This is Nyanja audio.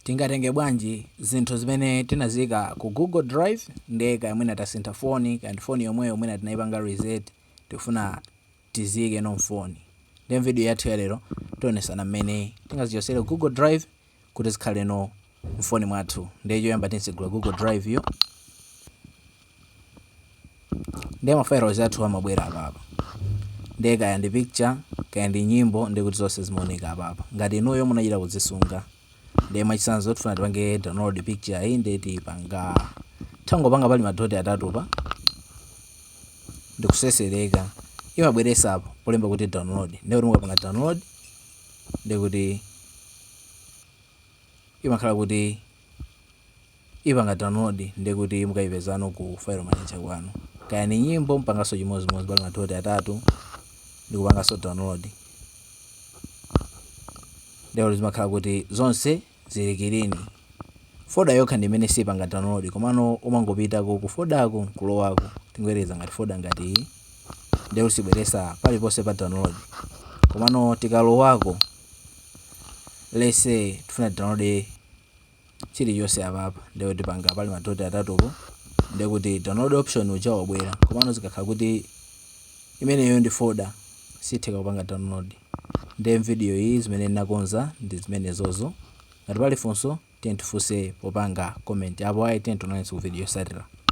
Tingatenge bwanji zinthu zimene tinaziika ku Google drive ndiye kaya mwina tasintha foni, kaya ndi foni yomweyo mwina tinaipanga reset tikufuna tiziikenso m'foni. Ndiye m'vidiyo yathu ya lero tionetsana mmene tingazichotsere ku Google drive kuti zikhalenso m'foni mwathu. Ndiye choyamba titsegula Google drive yo. ndiye ma files athu amabwera apapa ndiye kaya ndi picture kaya ndi nyimbo ndiye kuti zonse zimaoneka apapa ngati inuyo munachita kuzisunga ndiye mwachitsanzo tifuna tipange download picture iyi ndiye tipanga tangopanga pali madoti atatupa ndikusesereka imabweresa apo polemba kuti download ndiye kuti mukapanga download ndiye kuti imakhala kuti ipanga download ndiye kuti mukaipezano ku file manager kwanu kaya ni nyimbo mpanganso chimodzimodzi pali madoti atatu ndikupanganso download ndiye zimakhala kuti zonse zili clean foda yokha ndi imene sipanga download komano umangopitako ku fodako nkulowako tingoyerekeza ngati foda ngati iyi ndiye sibweresa paliponse pa download komano tikalowako let's say tifuna download chilichonse apapa ndiye tipanga pali madoti atatupo ndiye kuti download option uja wabwera komano zikakhala kuti imeneyo ndi folder sitheka kupanga download ndiye mvidiyo iyi zimene ndinakonza ndi zimenezozo ngati pali funso tiyeni tifunse popanga comment apo ayi tionanenso ku video yosatira